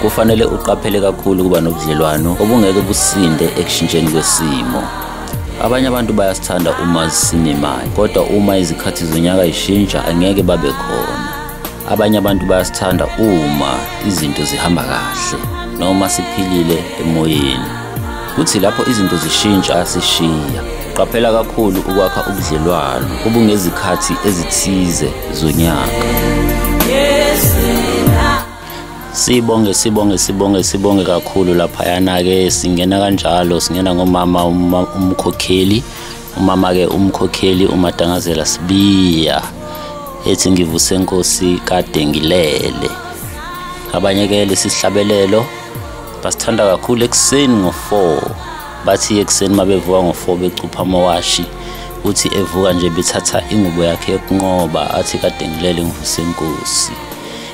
Kufanele uqaphele kakhulu ukuba nobudlelwano obungeke businde ekushintsheni kwesimo. Abanye abantu bayasithanda uma sinemali, kodwa uma izikhathi zonyaka zishintsha angeke babe khona. Abanye abantu bayasithanda uma izinto zihamba kahle noma siphilile emoyeni. Kuthi lapho izinto zishintsha asishiya. Qaphela kakhulu ukwakha ubudlelwano obungezikhathi ezithize zonyaka. sibonge sibonge sibonge sibonge kakhulu laphayana-ke singena kanjalo singena ngomama umkhokheli umama-ke umkhokheli umadangazela sibiya ethi ngivuse nkosi kade ngilele abanye-ke lesi sihlabelelo basithanda kakhulu ekuseni ngo-four bathi ekuseni uma bevuka ngo-four becupha amawashi uthi evuka nje bethatha ingubo yakhe yokunqoba athi kade ngilele ngivuse nkosi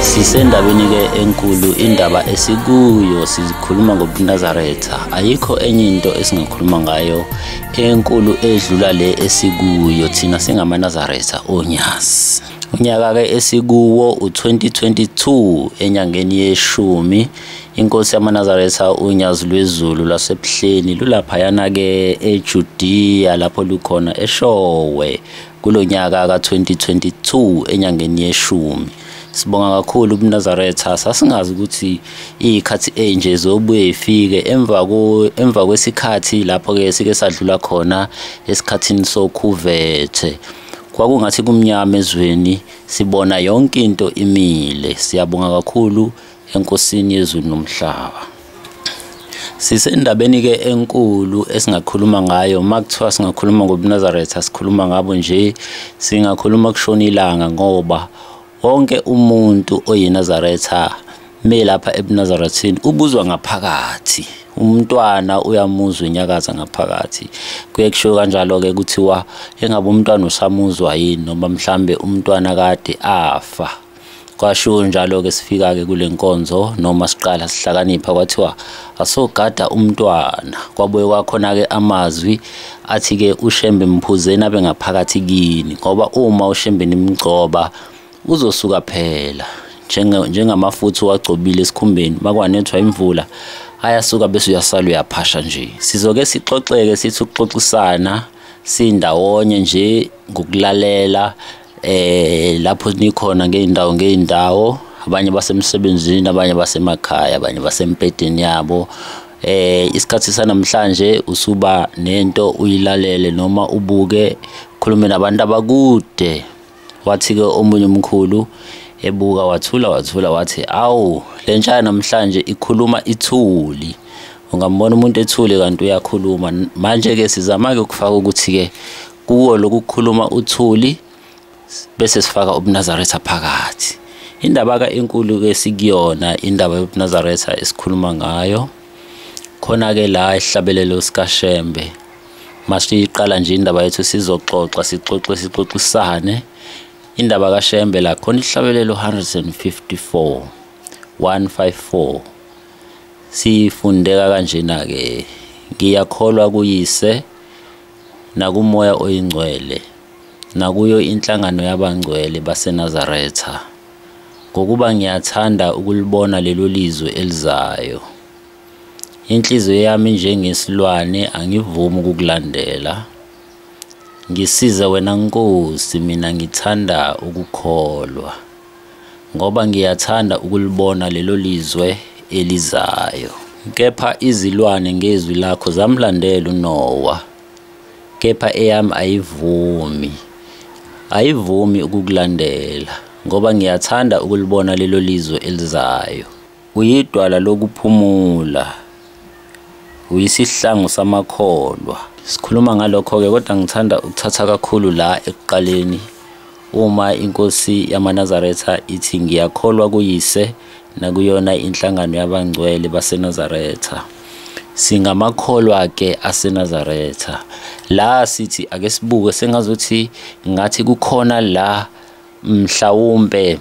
Sisendabeni ke enkulu indaba esikuyo sikhuluma ngobunazaretha ayikho enye into esingakhuluma ngayo enkulu edlula le esikuyo thina singamanazaretha onyazi unyaka ke esikuwo u2022 enyangeni yeshumi inkosi yamanazaretha unyazi lwezulu lasebuhleni lulaphayana ke eJudiya lapho lukhona eshowe kulo nyaka ka-2022 enyangeni yeshumi sibonga kakhulu kunazaretha sasingazi ukuthi iy'khathi enje zobuye ifike emva kwesikhathi lapho-ke sike sadlula khona esikhathini sokhuvethe kwakungathi kumnyama ezweni sibona yonke into imile siyabonga kakhulu enkosini yezulu nomhlaba sisendabeni ke enkulu esingakhuluma ngayo uma kuthiwa singakhuluma ngobunazaretha sikhuluma ngabo nje singakhuluma kushona ilanga ngoba wonke umuntu oyinazaretha me lapha ebunazarethini ubuzwa ngaphakathi umntwana uyamuzwa inyakaza ngaphakathi kuye kushiwo kanjalo-ke kuthiwa engabe umntwana usamuzwa yini noma mhlambe umntwana kade afa kwasho njalo-ke sifika-ke kule nkonzo noma siqala sihlakanipha kwathiwa asogada umntwana kwabuye kwakhona-ke amazwi athi-ke ushembe mphuzeni abe ngaphakathi kini ngoba uma ushembe nimgcoba uzosuka phela njengamafutha uwagcobile esikhumbeni makwanethwa imvula ayasuka bese uyasala uyaphasha nje sizoke sixoxeke sithi ukuxoxisana sindawonye nje ngokulalela eh lapho nikhona ngeendawo ngeendawo abanye basemsebenzini abanye basemakhaya abanye basempedeni yabo eh isikhathi sanamhlanje usuba nento uyilalele noma ubuke khulume nabantu abakude wathi ke omunye umkhulu ebuka wathula wathula wathi awu lentsha namhlanje ikhuluma ithuli ungambona umuntu ethule kanti uyakhuluma manje ke sizama ke ukufaka ukuthi ke kuwo lokukhuluma uthuli bese sifaka ubunazaretha phakathi indaba ka enkulu ke sikuyona indaba yobunazaretha esikhuluma ngayo khona ke la ihlabelelo sikashembe masiyiqala nje indaba yethu sizoxoxa sixoxe sixoxisane indaba kashembe la khona ihlabelelo 154 154 sifundeka kanjena ke ngiyakholwa kuyise nakumoya oyingcwele, nakuyo inhlangano yabangcwele baseNazaretha, ngokuba ngiyathanda ukulibona lelo lizwe elizayo. Inhliziyo yami njengesilwane angivumi ukukulandela. Ngisize wena Nkosi, mina ngithanda ukukholwa. ngoba ngiyathanda ukulibona lelo lizwe elizayo. Kepha izilwane ngezwi lakho zamlandela uNowa, kepha eyami ayivumi, ayivumi ukukulandela, ngoba ngiyathanda ukulibona lelo lizwe elizayo. Uyidwala lokuphumula. Uyisihlangu samakholwa. Sikhuluma ngalokho-ke kodwa ngithanda ukuthatha kakhulu la ekuqaleni uma inkosi yamaNazaretha ithi ngiyakholwa kuyise nakuyona inhlangano yabangcwele baseNazaretha. Singamakholwa-ke aseNazaretha. La sithi ake sibuke sengazuthi ngathi kukhona la mhlawumbe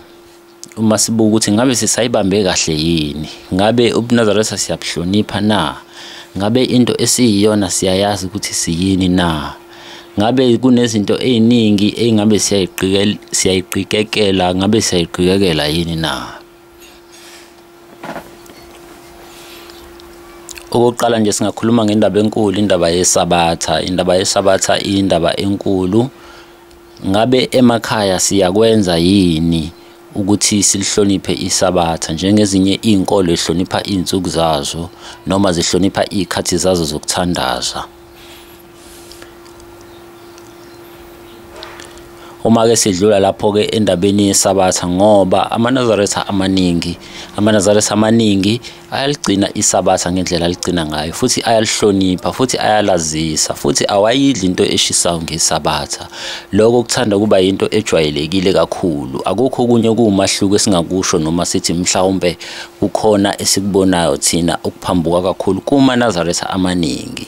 uma sibuka ukuthi ngabe sisayibambe kahle yini ngabe ubunazaretha siyabuhlonipha na ngabe into esiyiyona siyayazi ukuthi siyini na ngabe kunezinto eziningi engabe siyayiqikekela ngabe siyayiqikekela yini na okokuqala nje singakhuluma ngendaba enkulu indaba yesabatha indaba yesabatha indaba enkulu Ngabe emakhaya siyakwenza yini ukuthi silihloniphe isabatha njengezinye izinkolo ehlonipha izinsuku zazo noma zihlonipha izikhathi zazo zokuthandaza uma ke sidlula lapho ke endabeni yesabatha ngoba amanazaretha amaningi amanazaretha amaningi ayaligcina isabatha ngendlela aligcina ngayo futhi ayalihlonipha futhi ayalazisa futhi awayidli into eshisayo ngesabatha lokho kuthanda kuba yinto ejwayelekile kakhulu akukho okunye okuwumahluko esingakusho noma sithi mhlawumbe kukhona esikubonayo thina ukuphambuka kakhulu kuma-nazaretha amaningi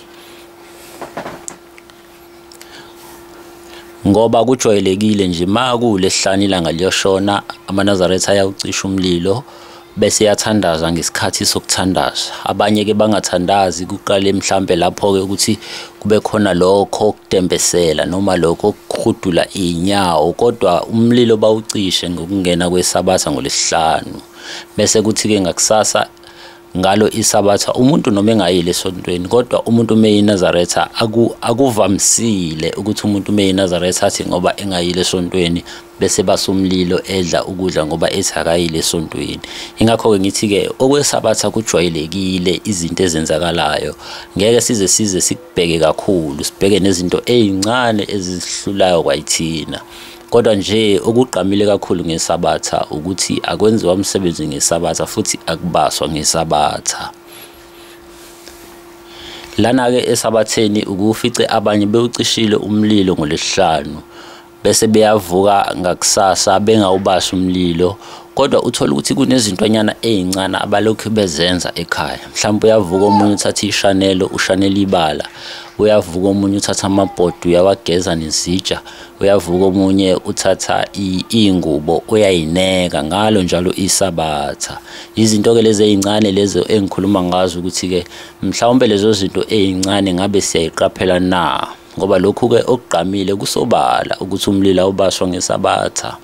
ngoba kujwayelekile nje ma kulesihlanu ilanga liyoshona amanazaretha ayawucisha umlilo bese yathandaza ngesikhathi sokuthandaza abanye-ke bangathandazi kuqale mhlampe lapho-ke ukuthi kube khona lokho okutembesela noma lokho okuhudula iy'nyawo kodwa umlilo bawucishe ngokungena kwesabatha ngolesihlanu bese kuthi-ke ngakusasa ngalo isabatha umuntu noma engayile esontweni kodwa umuntu uma eyinazaretha akuvamisile ukuthi umuntu uma eyinazaretha athi ngoba engayile esontweni bese basumlilo edla ukudla ngoba ethi akayile esontweni ingakho-ke ngithi-ke okwesabatha kujwayelekile izinto ezenzakalayo ngeke size size sikubheke kakhulu sibheke nezinto ey'ncane ezihlulayo kwayithina Kodwa nje okugqamile kakhulu ngesabatha ukuthi akwenziwa umsebenzi ngesabatha futhi akubaswa ngesabatha. Lana-ke esabatheni ukufice abanye bewucishile umlilo ngolesihlanu bese beyavuka ngakusasa bengawubasi umlilo kodwa uthola ukuthi kunezintwanyana ezincane abalokhu bezenza ekhaya mhlawumbe uyavuka omunye uthatha ishanelo ushanela ibala uyavuka omunye uthatha amabhodi uyawageza nezitsha uyavuka omunye uthatha iy'ngubo uyayineka ngalo njalo isabatha izinto-ke lezi ey'ncane lezo engikhuluma ngazo ukuthi-ke mhlawumbe lezo zinto ey'ncane ngabe siyayiqaphela na ngoba lokhu-ke okugqamile kusobala ukuthi umlilo awubaswa ngesabatha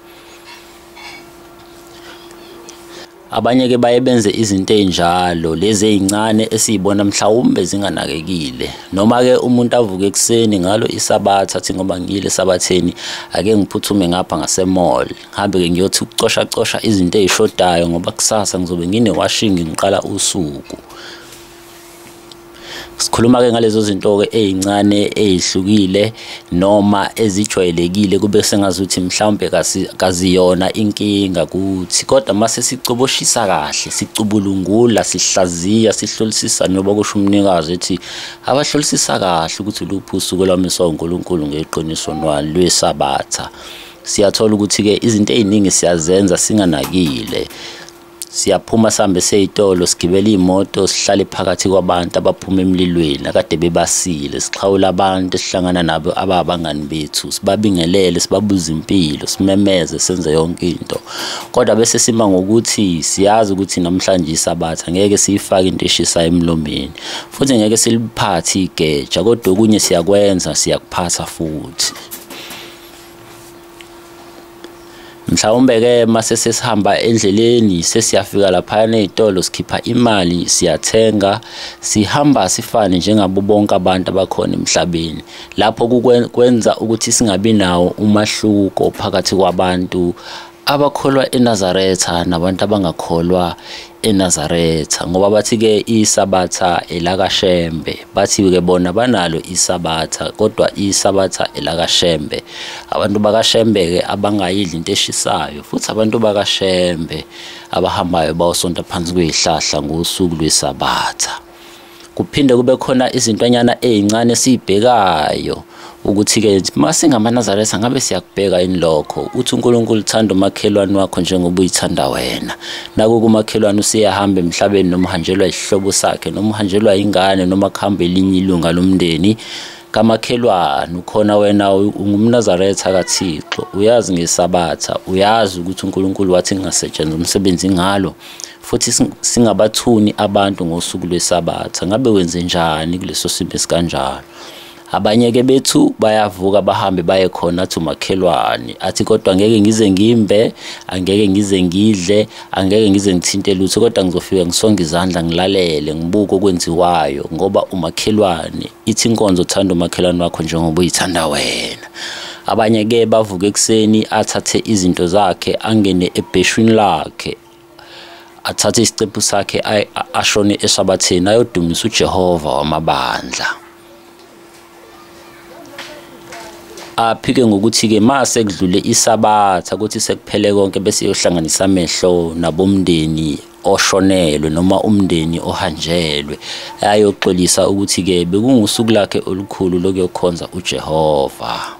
Abanye ke baye benze izinto ezinjalo lezi ezincane esizibona mhlawumbe zinganakekile noma ke umuntu avuke ekseni ngalo isabatha athi ngoba ngiyile sabatheni ake ngiphuthume ngapha ngase mall ngihambe ke ngiyothi ukucosha cosha izinto ezishodayo ngoba kusasa ngizobe ngine washing ngiqala usuku sikhuluma ke ngalezo zinto ke ezincane ezihlukile noma ezijwayelekile kube sengazuthi mhlawumbe kaziyona inkinga kuthi kodwa mase sicoboshisa kahle sicubulungula sihlaziya sihlolisisa noba kusho umnikazi ethi abahlolisisa kahle ukuthi luphi usuku lwamiswa uNkulunkulu ngeqiniso lwesabatha siyathola ukuthi ke izinto eziningi siyazenza singanakile siyaphuma sihambe seyitolo sigibela iy'moto sihlale phakathi kwabantu abaphuma emlilweni akade bebasile sixhawula abantu esihlangana nabo ababangani bethu sibabingelele sibabuza impilo simemeze senze yonke into kodwa bese sima ngokuthi siyazi ukuthi namhlanje isabatha ngeke siyifake into eshisayo emlomeni futhi ngeke siliphathe igeja kodwa okunye siyakwenza siyakuphatha futhi mhlawumbe ke mase sesihamba endleleni sesiyafika lapha nezitolo sikhipha imali siyathenga sihamba sifane njengabo bonke abantu abakhona emhlabeni lapho kwenza ukuthi singabi nawo umahluko phakathi kwabantu abakholwa eNazaretha nabantu abangakholwa eNazaretha ngoba bathi ke isabatha elakaShembe bathi ke bona banalo isabatha kodwa isabatha elakaShembe abantu bakaShembe ke abangayidli into eshisayo futhi abantu bakaShembe abahambayo bawusonta phansi kwezihlahla ngosuku lwesabatha kuphinde kube khona izintwanyana ezincane esibhekayo ukuthi ke masingamanazaretha ngabe siyakubheka yini lokho uthi uNkulunkulu uthanda umakhelwane wakho njengoba uyithanda wena naku kumakhelwane usiyahamba emhlabeni noma uhanjelwa isihlobo sakhe noma uhanjelwa ingane noma kuhamba elinye ilunga lomndeni kamakhelwane ukhona wena ungumnazaretha kaThixo uyazi ngesabatha uyazi ukuthi uNkulunkulu wathi ngingasetshenziswa umsebenzi ngalo futhi singabathuni abantu ngosuku lwesabatha ngabe wenze njani kuleso simo esikanjalo abanye-ke bethu bayavuka bahambe baye khona athi umakhelwane athi kodwa ngeke ngize ngimbe angeke ngize ngidle angeke ngize ngithinte lutho kodwa ngizofika ngisonge izandla ngilalele ngibuke okwenziwayo ngoba umakhelwane ithi inkonzo uthanda umakhelwane wakho njengoba uyithanda wena abanye-ke bavuka ekuseni athathe izinto zakhe angene ebheshwini lakhe athathe isicephu sakhe ashone esabathini ayodumisa uJehova wamabandla aphike ngokuthi ke mase kudlule isabatha ukuthi sekuphele konke bese yohlanganisa amehlo nabomndeni oshonelwe noma umndeni ohanjelwe ayoxolisa ukuthi ke bekungusuku lakhe olukhulu lokuyokhonza uJehova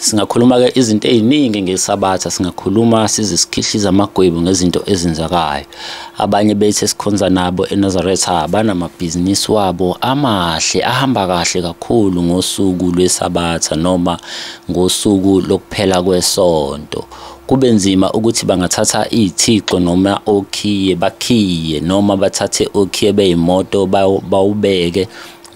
singakhuluma-ke izinto ey'ningi ngesabatha singakhuluma sizisikhihlisa amagwebu ngezinto ezenzakayo abanye bethu esikhonza nabo enazaretha banamabhizinisi wabo amahle ahamba kahle kakhulu ngosuku lwesabatha noma ngosuku lokuphela kwesonto kube nzima ukuthi bangathatha iy'thixo noma okhiye bakhiye noma bathathe okhiye beyimoto bawubeke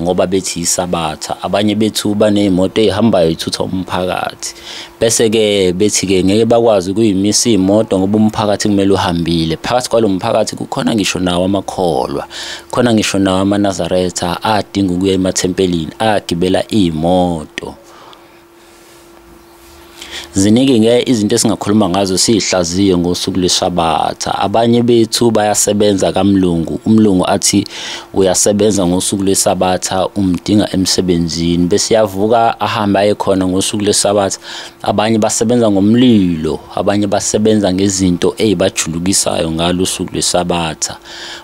ngoba bethi isabatha abanye bethu banezimoto ezihambayo ithutha umphakathi bese ke bethi ke ngeke bakwazi kuyimisa imoto ngoba umphakathi kumele uhambile phakathi kwalomphakathi kukhona ngisho nawo amakholwa khona ngisho nawo amaNazaretha adinga ukuya emathempelini agibela imoto ziningi nge izinto esingakhuluma ngazo siyihlaziye ngosuku lwesabatha abanye bethu bayasebenza kamlungu umlungu athi uyasebenza ngosuku lwesabatha umdinga emsebenzini bese yavuka ahambe aye khona ngosuku lwesabatha abanye basebenza ngomlilo abanye basebenza ngezinto ezibajulukisayo ngalo usuku lwesabatha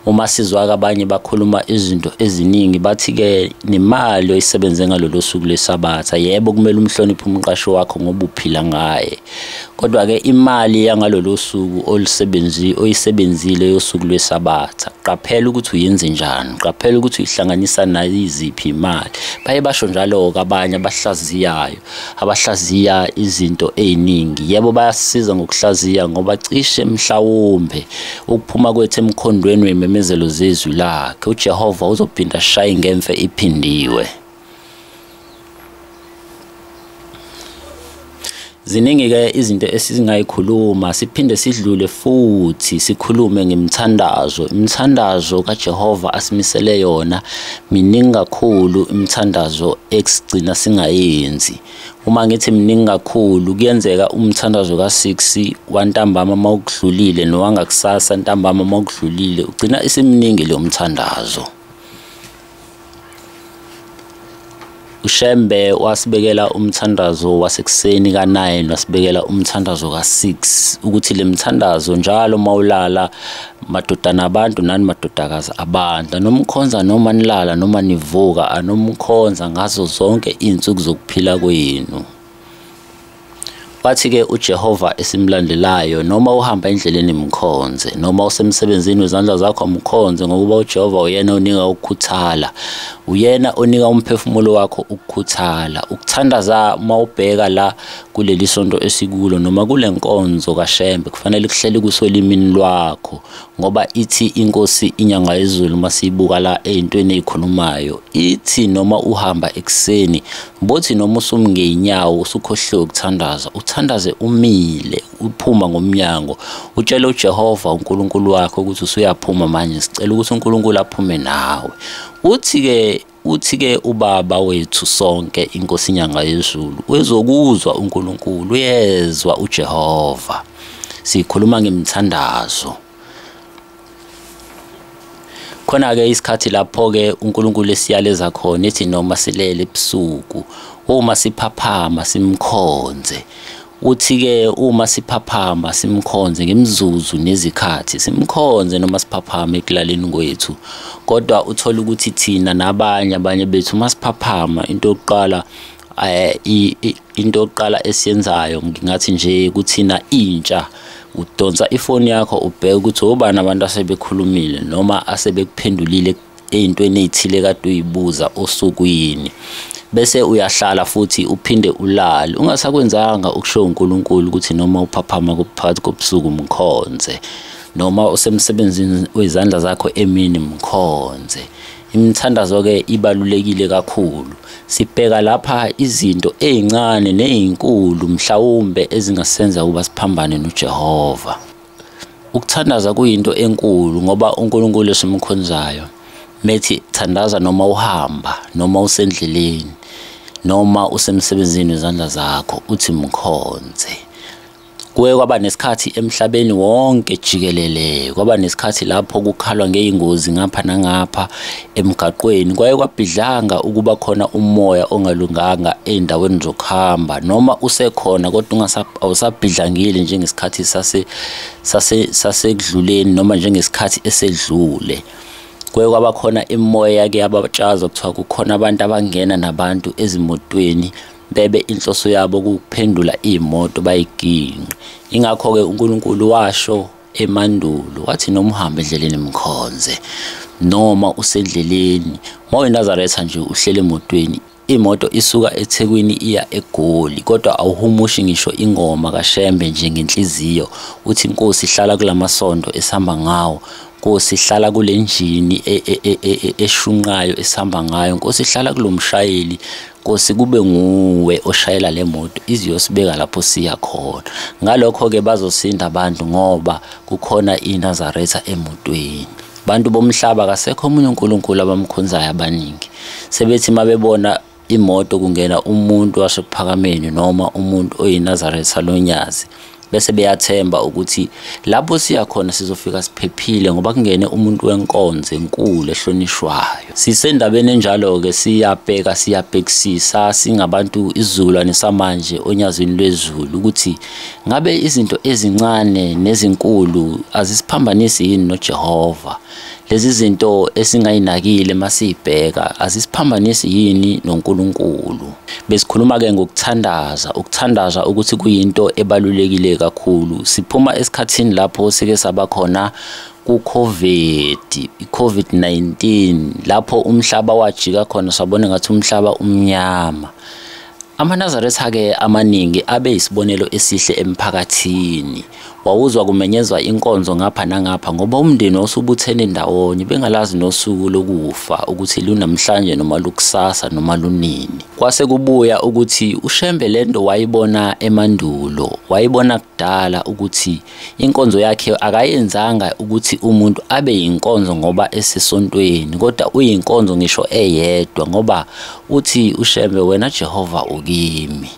uma sizwa abanye bakhuluma izinto eziningi bathi ke nemali oyisebenze ngalolu suku lesabatha yebo kumele umhloniphe umqashi wakho ngoba uphila ngaye kodwa ke imali yangalolu suku olusebenzi oyisebenzile yosuku lwesabatha qaphela ukuthi uyenze njani qaphela ukuthi uyihlanganisa nayiziphi imali baye basho njalo-ke abanye abahlaziyayo abahlaziya izinto eziningi yebo bayasiza ngokuhlaziya ngoba cishe mhlawumbe ukuphuma kwethu emkhondweni wememezelo zezwi lakhe uJehova uzophinda shaye ngemfe iphindiwe ziningi-ke izinto esizingayikhuluma siphinde sidlule futhi sikhulume ngemthandazo imithandazo kajehova asimisele yona miningi kakhulu imithandazo esigcina singayenzi uma ngithi miningi kakhulu kuyenzeka umthandazo ka-6 wantambama uma ukudlulile nowangakusasa ntambama uma ukudlulile ugcina isiminingi leyo mthandazo uShembe wasibekela umthandazo wasekuseni ka-9 wasibekela umthandazo ka-6 ukuthi le mthandazo njalo uma ulala madodana abantu nani madodakazi abantu anomkhonza noma nilala noma nivuka anomkhonza ngazo zonke iy'nsuku zokuphila kwenu Wathi-ke uJehova esimlandelayo, noma uhamba endleleni mkhonze, noma usemsebenzini wezandla zakho mkhonze, ngokuba uJehova uyena onika ukukhuthala. Uyena onika umphefumulo wakho ukukhuthala. Ukuthandaza uma ubheka la kuleli sonto esikulo noma kule nkonzo kaShembe, kufanele kuhlele kusolimini lwakho. ngoba ithi inkosi inyanga yezulu uma siyibuka la ey'ntweni ey'khulumayo ithi noma uhamba ekuseni bothi noma usumngeyinyawo usukhohliwe ukuthandaza uthandaze umile uphuma ngomnyango utshele ujehova unkulunkulu wakho ukuthi usuyaphuma manje sicela ukuthi unkulunkulu aphume nawe uthi-ke uthi ke ubaba wethu sonke inkosi inyanga yezulu wezokuzwa uNkulunkulu uyezwa uJehova sikhuluma ngemthandazo khona ke isikhathi lapho ke uNkulunkulu esiyaleza khona ethi noma silele ebusuku uma siphaphama simkhonze Uthi-ke uma siphaphama simkhonze ngemizuzu nezikhathi, simkhonze noma siphaphama ekulaleni kwethu. Kodwa uthole ukuthi thina nabanye abanye bethu uma siphaphama into yokuqala eh, into yokuqala esiyenzayo ngingathi nje kuthina intsha udonsa ifoni yakho ubheke ukuthi obani abantu asebekhulumile noma asebekuphendulile ey'ntweni ey'thile kade uyibuza usuku yini bese uyahlala futhi uphinde ulale ungasakwenzanga ukushiwo uNkulunkulu ukuthi noma uphaphama kuphakathi kobusuku mkhonze noma usemsebenzini wezandla zakho emini mkhonze imithandazo ke ibalulekile kakhulu sibheka lapha izinto ezincane nezinkulu mhlawumbe ezingasenza ukuba siphambane noJehova Ukuthandaza kuyinto enkulu ngoba uNkulunkulu esimkhonzayo methi thandaza noma uhamba noma usendleleni noma usemsebenzini wezandla zakho uthi mkhonze kuye kwaba nesikhathi emhlabeni wonke jikelele kwaba nesikhathi lapho kukhalwa ngeyingozi ngapha nangapha Emgaqweni kwaye kwabhidlanga ukuba khona umoya ongalunganga ezindaweni zokuhamba noma usekhona kodwa awusabhidlangile njengesikhathi sase sase sasekudluleni noma njengesikhathi esedlule. Kwaye kwaba khona imoya ke yabatshaza kuthiwa kukhona abantu abangena nabantu ezimotweni bebe inhloso yabo ukuphendula imoto bayiginqe ingakho ke uNkulunkulu washo emandulo wathi noma uhamba endleleni mkhonze noma usendleleni mawenazaretha nje uhlele emotweni imoto isuka ethekwini iya egoli kodwa awuhumushi ngisho ingoma kashembe nje ngenhliziyo uthi inkosi ihlala kulamasondo esihamba ngawo Nkosi hlala kule njini e, e, e, eshunqayo esihamba ngayo Nkosi hlala kulomshayeli Nkosi kube nguwe oshayela le moto iziyosibeka lapho siya khona. Ngalokho-ke bazosinda abantu ngoba kukhona iNazaretha emotweni. Abantu bomhlaba kasekho omunye uNkulunkulu abamkhonzayo abaningi. Sebethi uma bebona imoto kungena umuntu wasephakameni noma umuntu oyinazaretha lonyazi bese beyathemba ukuthi lapho siya khona sizofika siphephile ngoba kungene umuntu wenkonzo enkulu ehlonishwayo sisendabeni enjalo-ke siyabheka siyabhekisisa singabantu isizukulwane samanje onyazini lwezulu ukuthi ngabe izinto ezincane nezinkulu azisiphambanisi yini nojehova Lezi zinto esingayinakile masibheka azisiphambanisi yini noNkulunkulu. Besikhuluma ke ngokuthandaza, ukuthandaza ukuthi kuyinto ebalulekile kakhulu. Siphuma esikhathini lapho sike saba khona ku-COVID, i-COVID-19 lapho umhlaba wajika khona sabona ngathi umhlaba umnyama. Amanazaretha ke amaningi abe isibonelo esihle emphakathini. Wawuzwa kumenyezwa inkonzo ngapha nangapha ngoba umndeni wawusubuthene ndawonye bengalazi nosuku lokufa ukuthi lunamhlanje noma lukusasa noma lunini. Kwase kubuya ukuthi uShembe lento wayibona emandulo, wayibona kudala ukuthi inkonzo yakhe akayenzanga ukuthi umuntu abe yinkonzo ngoba esesontweni kodwa uyinkonzo ngisho eyedwa ngoba uthi uShembe wena Jehova ukimi.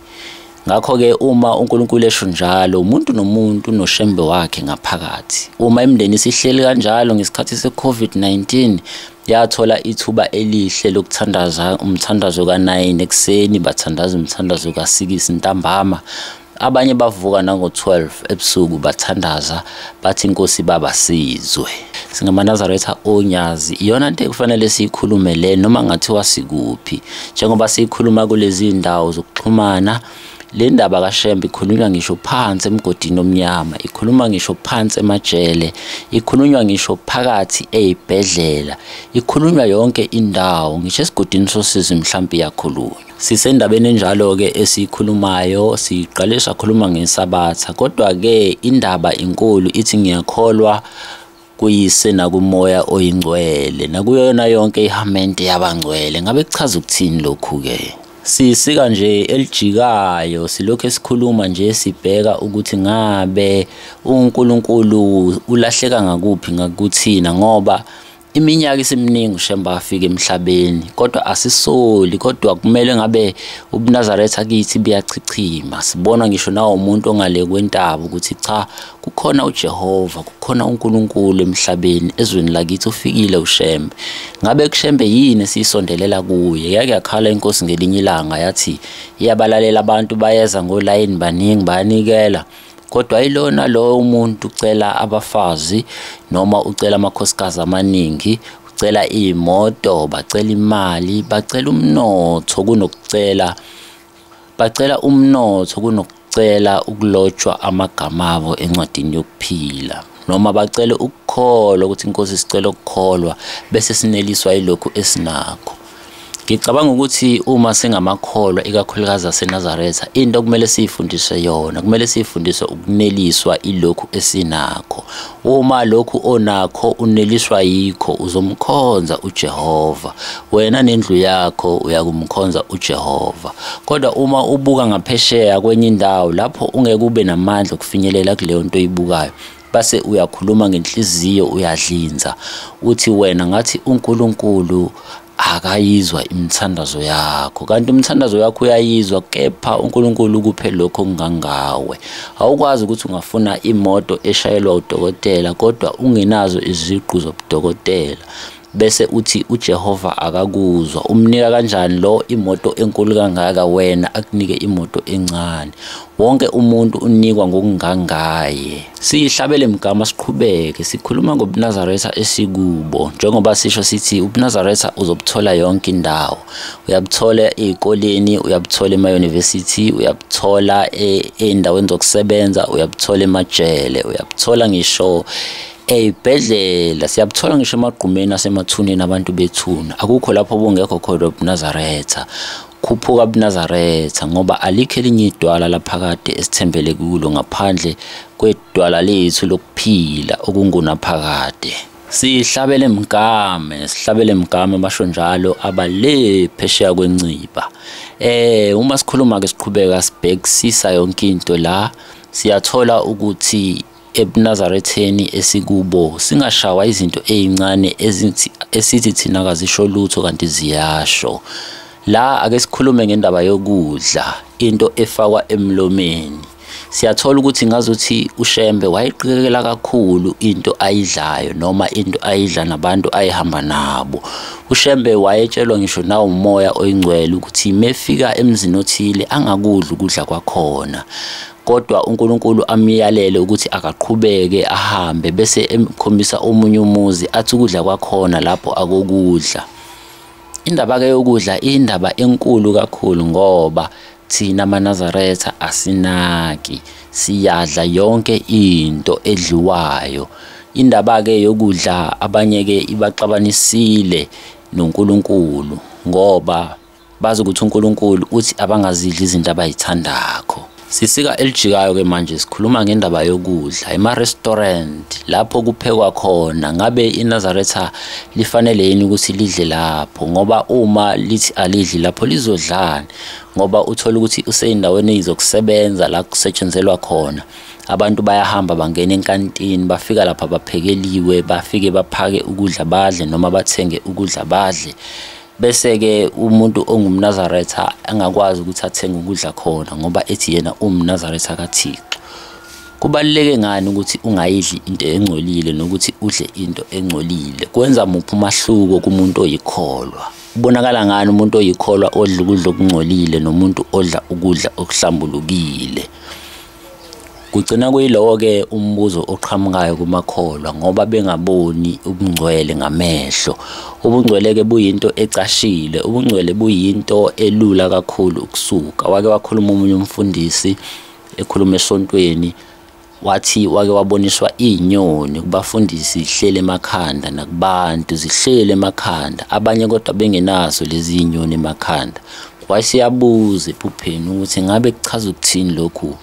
Ngakho-ke uma uNkulunkulu esho njalo, umuntu nomuntu unoshembe wakhe ngaphakathi. Uma imindeni isihleli kanjalo ngesikhathi se-COVID-19, yathola ithuba elihle lokuthandaza umthandazo ka-9 ekuseni, bathandaza umthandazo ka-6 ntambama. Abanye bavuka nango-12 ebusuku bathandaza bathi inkosi baba sizwe singamanazaretha onyazi iyona nto ekufanele siyikhulume le noma ngathiwa sikuphi njengoba siyikhuluma kulezi ndawo zokuxhumana le ndaba kashembe ikhulunywa ngisho phansi emgodini omnyama ikhuluma ngisho phansi emajele ikhulunywa ngisho phakathi eyibhedlela ikhulunywa yonke indawo ngisho esigodini sosizi mhlawumbe iyakhulunywa Sisendabeni enjalo-ke esiyikhulumayo siqale sakhuluma ngesabatha kodwa-ke indaba inkulu ithi ngiyakholwa kuyise nakumoya oyingcwele nakuyona yonke ihamente yabangcwele ngabe kuchaza ukuthini lokhu-ke sisika nje elijikayo silokhu esikhuluma nje sibheka ukuthi ngabe uNkulunkulu ulahleka ngakuphi ngakuthina ngoba iminyaka isiminingi ushemba afika emhlabeni kodwa asisoli kodwa kumele ngabe ubunazaretha kithi buyachichima sibona ngisho nawo umuntu ongale kwentaba ukuthi cha kukhona ujehova kukhona unkulunkulu emhlabeni ezweni lakithi ufikile ushembe ngabe kushembe yini esiyisondelela kuye yake yakhala inkosi ngelinye ilanga yathi iyabalalela abantu bayeza ngolayini baningi bayanikela kodwa ilona lowo umuntu ucela abafazi noma ucela amakhosikazi amaningi ucela iy'moto bacela imali bacela umnotho kunokucela bacela umnotho kunokucela ukulotshwa amagama abo encwadini yokuphila noma bacele ukukholwa ukuthi inkosi sicela ukukholwa bese sineliswa yilokhu esinakho ngicabanga ukuthi uma singamakholwa ikakhulukazi aseNazaretha into okumele siyifundiswe yona kumele siyifundiswe ukuneliswa ilokhu esinakho uma lokhu onakho uneliswa yikho uzomkhonza uJehova wena nendlu yakho uyakumkhonza uJehova kodwa uma ubuka ngaphesheya kwenye indawo lapho ungeke ube namandla okufinyelela kuleyo nto oyibukayo base uyakhuluma ngenhliziyo uyadlinza uthi wena ngathi uNkulunkulu akayizwa imithandazo yakho kanti umthandazo yakho uyayizwa kepha uNkulunkulu ukuphe lokho kungangawe awukwazi ukuthi ungafuna imoto eshayelwa udokotela kodwa ungenazo iziqu zobudokotela bese uthi uJehova akakuzwa umnika kanjani lo imoto enkulu kangaka wena akunike imoto encane wonke umuntu unikwa ngokungangaye siyihlabele mgama siqhubeke sikhuluma ngobunazaretha esikubo njengoba sisho sithi ubunazaretha uzobuthola yonke indawo uyabuthola ezikoleni uyabuthola emayunivesithi uyabuthola e, ey'ndaweni zokusebenza uyabuthola emajele uyabuthola ngisho eyibhedlela siyabuthola ngisho emagqumeni asemathuneni abantu bethuna akukho lapho obungekho khona ubunazaretha khuphuka bunazaretha ngoba alikho elinye idwala laphakade esithembele kulo ngaphandle kwedwala lethu lokuphila okungunaphakade sihlabele mgame sihlabele mgame basho njalo abale phesheya kwenciba eh uma sikhuluma ke siqhubeka sibhekisisa yonke into la siyathola ukuthi ebunazaretheni esikubo singashawa izinto ezincane esithi thina kazisho lutho kanti ziyasho la ake sikhulume ngendaba yokudla into efakwa emlomeni siyathola ukuthi ngazothi ushembe wayiqikekela kakhulu into ayidlayo noma into ayidla nabantu ayihamba nabo ushembe wayetshelwa ngisho nawo umoya oyingcwele ukuthi mefika emzini othile angakudla ukudla kwakhona kodwa uNkulunkulu amyalele ukuthi akaqhubeke ahambe bese emkhombisa omunye umuzi athi ukudla kwakhona lapho akokudla indaba ke yokudla indaba enkulu kakhulu ngoba thina manazaretha asinaki siyadla yonke into edliwayo indaba ke yokudla abanye ke ibaxabanisile noNkulunkulu ngoba bazi ukuthi uNkulunkulu uthi abangazidli izinto abayithandakho sisika elijikayo ke manje sikhuluma ngendaba yokudla ema-restaurant lapho kuphekwa khona ngabe inazaretha lifanele yini ukuthi lidle lapho ngoba uma lithi alidli lapho lizodlani ngoba uthola ukuthi useyindaweni eyizokusebenza la kusetshenzelwa khona abantu bayahamba bangena enkantini bafika lapha baphekeliwe bafike baphake ukudla badle noma bathenge ukudla badle bese-ke umuntu ongumnazaretha angakwazi ukuthi athenge ukudla khona ngoba ethi yena uwumnazaretha kathixo kubaluleke ngani ukuthi ungayidli into engcolile nokuthi udle into engcolile kwenza muphi umahluko kumuntu oyikholwa ubonakala ngani umuntu oyikholwa odla ukudla okungcolile nomuntu odla ukudla okuhlambulukile Kugcina kuyilowo-ke umbuzo oqhamukayo kumakholwa ngoba bengaboni ubungcwele ngamehlo. Ubungcwele-ke buyinto ecashile, ubungcwele buyinto elula kakhulu ukusuka. Wake wakhuluma omunye umfundisi ekhuluma esontweni wathi wake waboniswa iy'nyoni kubafundisi zihleli emakhanda nakubantu zihleli emakhanda abanye kodwa bengenazo lezi y'nyoni emakhanda wasiyabuza ephupheni ukuthi ngabe kuchaza ukuthini lokhu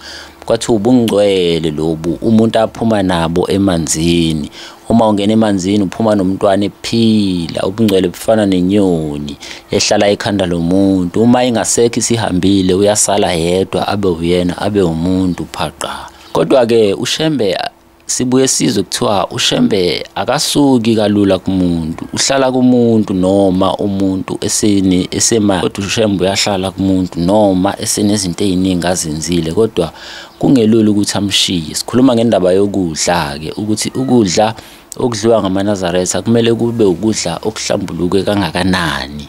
kwathi ubungcwele lobu umuntu aphuma nabo emanzini uma ungena emanzini uphuma nomntwana ephila ubungcwele bufana nenyoni ehlala ekhanda lomuntu uma ingasekho isihambile uyasala yedwa abe uyena abe umuntu phaqa kodwa-ke ushembe sibuye sizwe kuthiwa ushembe akasuki kalula kumuntu uhlala kumuntu noma umuntu eseni esemali kodwa ushembe uyahlala kumuntu noma esenezinto eziningi azenzile kodwa kungelula ukuthi amshiye sikhuluma ngendaba yokudla ke ukuthi ukudla okudliwa ngamanazaretha kumele kube ukudla okuhlambuluke kangakanani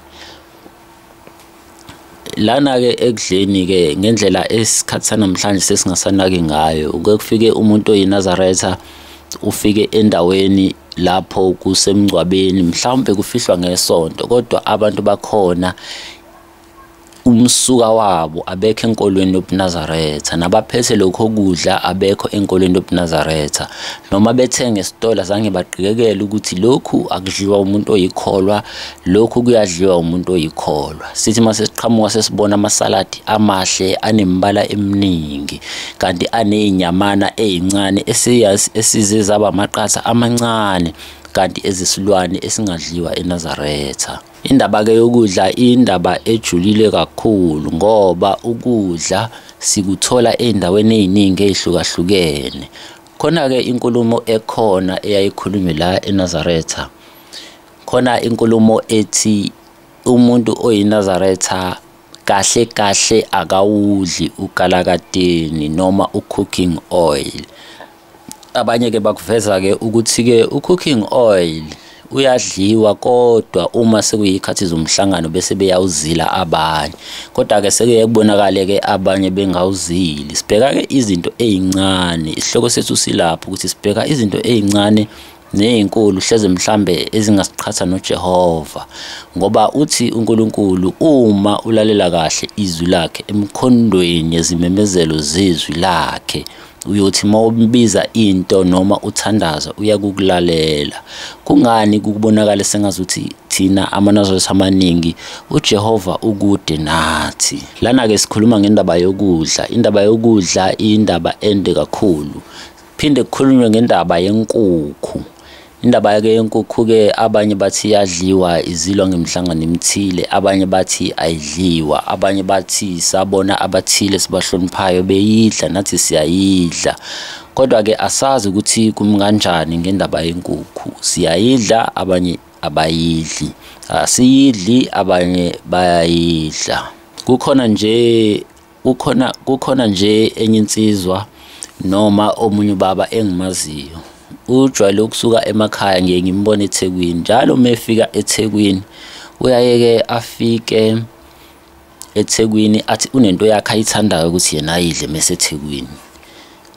lana-ke ekudleni-ke ngendlela esikhathi sanamhlanje sesingasanaki ngayo kuke kufike umuntu oyinazaretha ufike endaweni lapho kusemngcwabeni mhlawumbe kufihlwa ngesonto kodwa abantu bakhona umsuka wabo abekho enkolweni yobunazaretha nabaphethe lokho kudla abekho enkolweni yobunazaretha noma bethenge esitolo zange baqikekele ukuthi lokhu akudliwa umuntu oyikholwa Lokhu kuyadliwa umuntu oyikholwa. Sithi uma sesiqhamuka sesibona amasaladi amahle anembala eminingi kanti anezinyamana ezincane esiyazi esize zaba amaqatha amancane kanti ezisilwane esingadliwa eNazaretha. Indaba ke yokudla indaba ejulile kakhulu ngoba ukudla sikuthola ezindaweni eziningi ezihlukahlukene. Khona ke inkulumo ekhona eyayikhulunywe la eNazaretha. khona inkulumo ethi umuntu oyinazaretha kahle kahle akawudli ugalakateni noma u-cooking oil abanye ke bakuveza ke ukuthi ke u-cooking oil uyadliwa kodwa uma sekuyikhathi zomhlangano bese beyawuzila abanye kodwa ke sekuye kubonakale ke abanye bengawuzili sibheka ke izinto ezincane isihloko sethu silapho ukuthi sibheka izinto ezincane nezinkulu hleze mhlambe ezingasiqhatha noJehova ngoba uthi uNkulunkulu uma ulalela kahle izwi lakhe emkhondweni yezimemezelo zezwi lakhe uyothi uma umbiza into noma uthandaza uyakukulalela kungani kukubonakala sengazuthi thina amanazaretha amaningi uJehova ukude nathi lana ke sikhuluma ngendaba yokudla indaba yokudla indaba ende kakhulu Phinde kukhulunywe ngendaba yenkukhu. Indaba yake yenkukhu-ke abanye bathi iyadliwa izilwa ngemihlangano emithile, abanye bathi ayidliwa, abanye bathi sabona abathile sibahloniphayo beyidla nathi siyayidla. Kodwa-ke asazi ukuthi kumi kanjani ngendaba yenkukhu. Siyayidla abanye abayidli, asiyidli abanye bayayidla. Kukhona nje kukhona kukhona nje enye insizwa noma omunye ubaba engimaziyo ujwayele ukusuka emakhaya ngiye ngimbone ethekwini njalo uma efika ethekwini uyayeke afike ethekwini athi unento yakhe ayithandayo ukuthi yena ayidle mesethekwini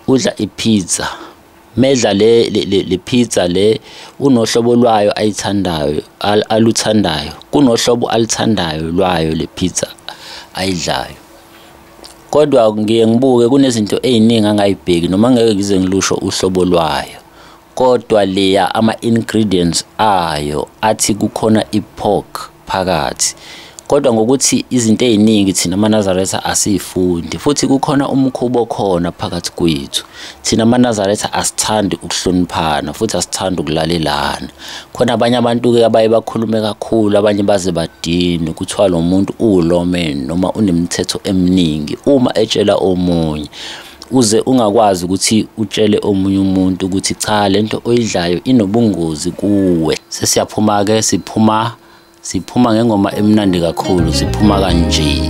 udla ipizza Medla le le pizza le unohlobo lwayo ayithandayo aluthandayo kunohlobo alithandayo lwayo le pizza ayidlayo kodwa ngiye ngibuke kunezinto eziningi angayibheki noma ngeke ngize ngilusho uhlobo lwayo kodwa leya ama ingredients ayo athi kukhona ipork phakathi kodwa ngokuthi izinto eziningi thina manazaretha asifundi futhi kukhona umkhubo khona phakathi kwethu thina manazaretha asithandi ukuhloniphana futhi asithandi ukulalelana khona abanye abantu ke abaye bakhulume kakhulu abanye baze badini kuthiwa lo muntu uwulomen noma unemithetho eminingi uma etshela omunye uze ungakwazi ukuthi utshele omunye umuntu ukuthi cha lento oyidlayo inobungozi kuwe sesiyaphuma ke siphuma siphuma ngengoma emnandi kakhulu siphuma kanje